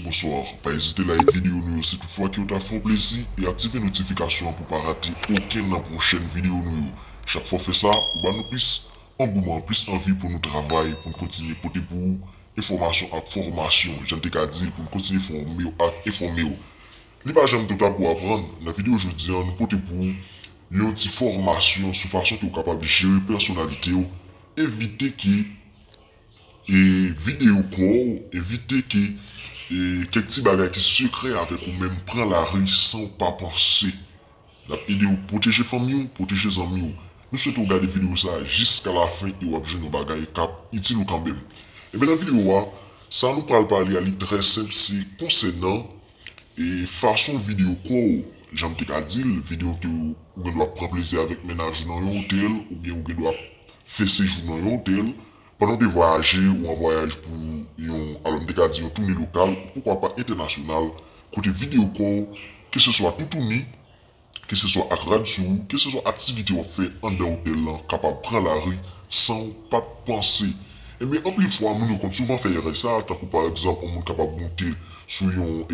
Bonsoir, pa ezite like video nou yo si tout fwa ke yo ta fè w plezi e aktive notification an pou pa rate okenn nan pwochèn video nou yo. Chak fwa w fè sa, ou ba nou plis angouman, plis anvi pou nou travay, pou n kontinye pote pou ou enfòmasyon ak fòmasyon, jan n te ka di l pou n kontinye fòme w ak enfòme w. Li pa janm two ta pou aprann, nan video jodi an nou pote pou ou yon ti fòmasyon sou fason ke w kapab jere pèsonalite w, evite ke. E vide yo kò w, evite ke kèk ti bagay ki sekrè avèk ou menm pran lari san w pa panse. N ap ede w pwoteje fanmi w, pwoteje zanmi w. Nou swete w gade videyo sa a jiska lafen e w ap jwenn yon bagay k ap itil ou kanmenm. Enben nan videyo a, sa nou pral pale a li trè senp se konsènan fason vide yo kò w, jan m te ka di l, vide yo ke ou gen dwa pran plezi avèk mennaj ou nan yon otèl oubyen ou gen dwa fè sejou nan yon otèl, pandan w te vwayaje ou an vwayaj pou yon alò m te ka di yon toune lokal ou poukwa pa entènasyonal kote videyo kò w keseswa toutouni, keseswa ak rad sou ou, keseswa aktivite w ap fè anndan otèl lan kapab pran lari san w pa t panse. Enben anpil fwa moun yo konn souvan fè erè sa a tankou pa egzanp yon moun kapab moute sou yon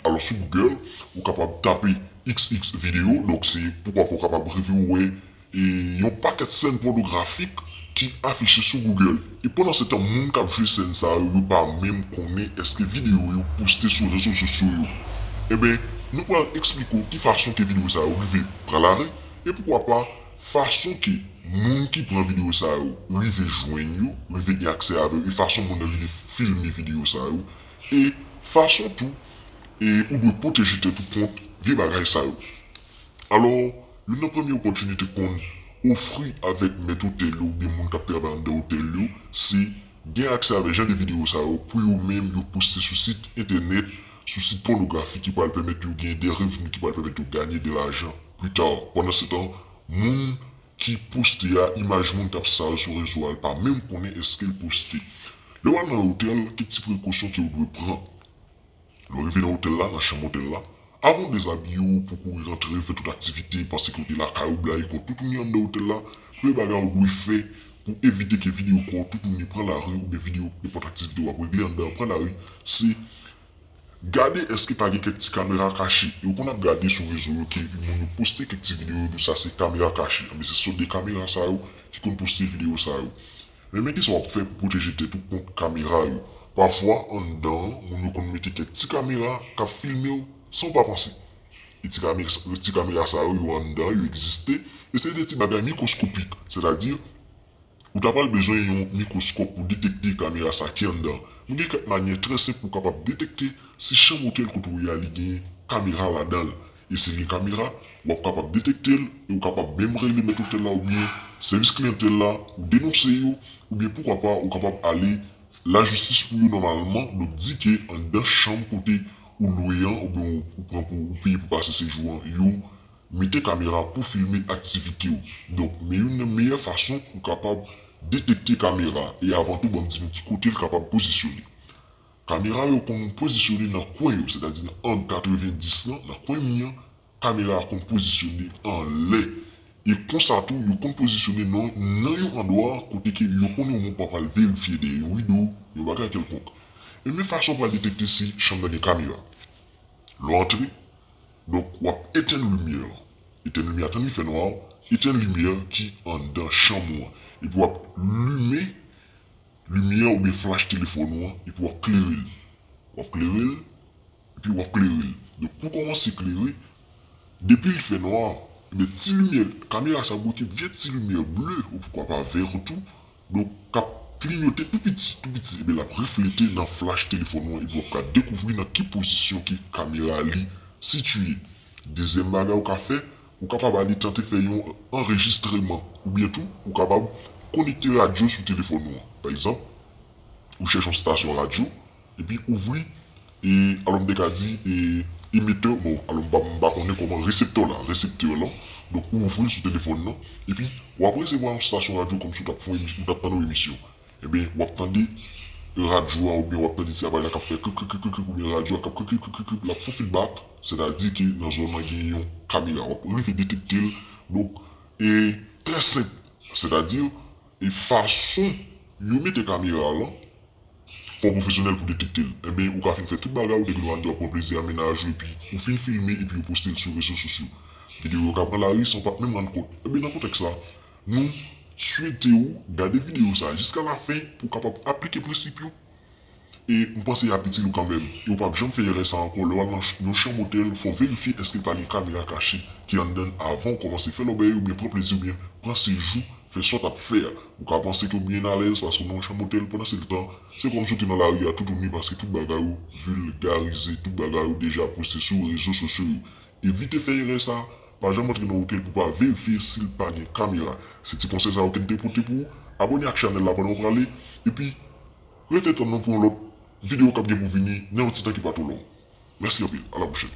alò sou Google ou kapab tape xx videyo donk se poukwa pa w kapab rive wè e yon pakèt sèn pònografik ki afiche sou Google e pandansetan moun k ap jwe sèn sa yo yo pa menm konnen èske videyo yo poste sou rezo sosyo yo enben nou pral eksplike w ki fason ke videyo sa yo rive pran lari e poukwa pa fason ke moun ki pran videyo sa yo rive jwenn yo rive gen aksè avè yo e fason moun nan rive filme videyo sa yo e fason tou e ou dwe pwoteje tèt ou kont vye bagay sa yo. Alò, youn nan premye opòtinite konn ofri avèk mèt otèl yo oubyen moun k ap travay anndan otèl yo se gen aksè avèk jan de videyo sa yo pou yo menm yo poste sou sit entènèt, sou sit pònografi ki pral pèmèt yo gen de revni ki pral pèmèt yo ganye de lajan plita. Pandansetan, moun ki poste a, imaj moun k ap sal sou rezo a l pa menm konnen èske l poste. Lè w al nan otèl, kèk ti prekosyon ke w dwe pran. Lè w rive nan otèl la, nan chanm otèl la, avan w dezabiye w pou w kouri rantre fè tout aktivite pa sekirite lakay ou blayi kò w toutouni anndan otèl la, premye bagay ou dwe fè pou w evite ke vide yo kò w toutouni pran lari oubyen vide yo nenpòt aktivite w ap regle anndan an pran lari, se gade èske pa gen kèk ti kamera kache. Yo konn ap gade sou rezo yo ke moun yo poste kèk ti videyo yo di w sa se kamera kache. Anben se sòt de kamera sa yo ki konn poste videyo sa yo. Men men kisa wap fè pou pwoteje tèt ou kont kamera yo. Pafwa anndan an moun yo konn mete kèk ti kamera kap filmew sanw pa panse. E ti kamera sa yo yo anndan yo egziste e se de ti bagay mikwoskopik sètadi ou ta pral bezwen yon mikwoskòp pou detekte kamera sa ki anndan an. Men gen kèk manyè trè senp pou kapab detekte si chanm otèl kote ou ye a li gen kamera ladanl E si gen kamera, w ap kapab detekte l e ou kapab menm rele mèt otèl la oubyen sèvis kliyantèl la, ou denonse yo, oubyen poukwa pa ou kapab ale lajistis pou yo nòmalman, donk di ke anndan chanm kote ou lwe an oubyen ou pran pou ou peye pou pase sejou an yo mete kamera pou filme aktivite w. Donk men youn nan meyè fason ou kapab detekte kamera e avan tou banm di nou ki kote l kapab pozisyone. Kamera yo konn pozisyone nan kwen yo, sètadi nan ang 90 lan, nan kwen mi an, kamera a konn pozisyone anlè. E konsa tou yo konn pozisyone nan nan yon andwa kote ke yo konn yon moun pa pral verifye dèyè yon rido, yon bagay kèlkonk. E men fason ou pral detekte si chanm nan gen kamera. Lè w antre, donk w ap etenn limyè an. Etenn limyè a tann li fè nwa, etenn limyè ki anndan chanm ou an. Epi w ap limen Limyè oubyen flach telefòn ou an epi wap klere l. Wap klere l epi wap klere l. Donk pou l kòmanse klere, depi l fè nwa, ebyen ti limyè, kamera sa bwote vye ti limyè ble ou pwouka pa vèr tou, donk kap klinyote tou piti, tou piti ebyen lap reflete nan flach telefòn ou an epi wap ka dekouvri nan ki pozisyon ke kamera li sitiye. Dezyèm bagay ou ka fè. Ou kapab ale tante fè yon anrejistreman oubyen tou ou kapab konekte radyo sou telefòn ou an. Pa egzanp, ou chèche yon stasyon radyo epi ouvri e alò m te ka di e emetè bon alò m pa m pa konnen kòman reseptò la reseptè lan donk ou ouvri l sou telefòn lan epi w ap resevwa yon stasyon radyo kòmsi w t ap fè yon ou t ap tann yon emisyon Ebyen, w ap tande radyo a oubyen w ap tande ti aparèy la k ap fè krip krip krip krip krip oubyen radyo a k ap krip krip krip krip krip l ap fè fidbak, sètadi ke nan zòn nan gen yon kamera. W ap rive detekte l. Donk, e trè senp, sètadi e fason yo mete kamera a lan, fò w pwofesyonèl pou w detekte l. Enben, ou ka fin fè tout bagay ou, nèg Loando ap pran plezi a, mennaj ou epi ou fin filme epi yo poste l sou rezo sosyo. Videyo yo ka pran lari san w pa t menm rann kont. Ebyen, nan kontèks sa. Nou swete ou gade videyo sa jiska la fen pou w kapab aplike prensip yo e m panse y ap itil ou kanmenm e ou p ap janm fè erè sa ankò lè w al nan yon chanm otèl fò w verifye èske l pa gen kamera kache ki anndan l avan w kòmanse fè lòbèy oubyen pran plezi oubyen pran sejou fè sa w t ap fè a ou ka panse ke w byen alèz paske w nan yon chanm otèl pandan se tan se kòmsi w te nan lari a toutouni paske tout bagay yo vilgarize tout bagay yo deja poste sou rezo sosyo yo evite fè erè sa. Pa janm antre nan hotel pou pa verifye sil pa gen kamera se ti konsèy sa yo kem te pote pou ou abone ak chanèl la pandan ou prale epi rete tann nou pou yon lòt video kap gen pou vini nan yon ti tan ki pa two long mèsi anpil a la pwochèn.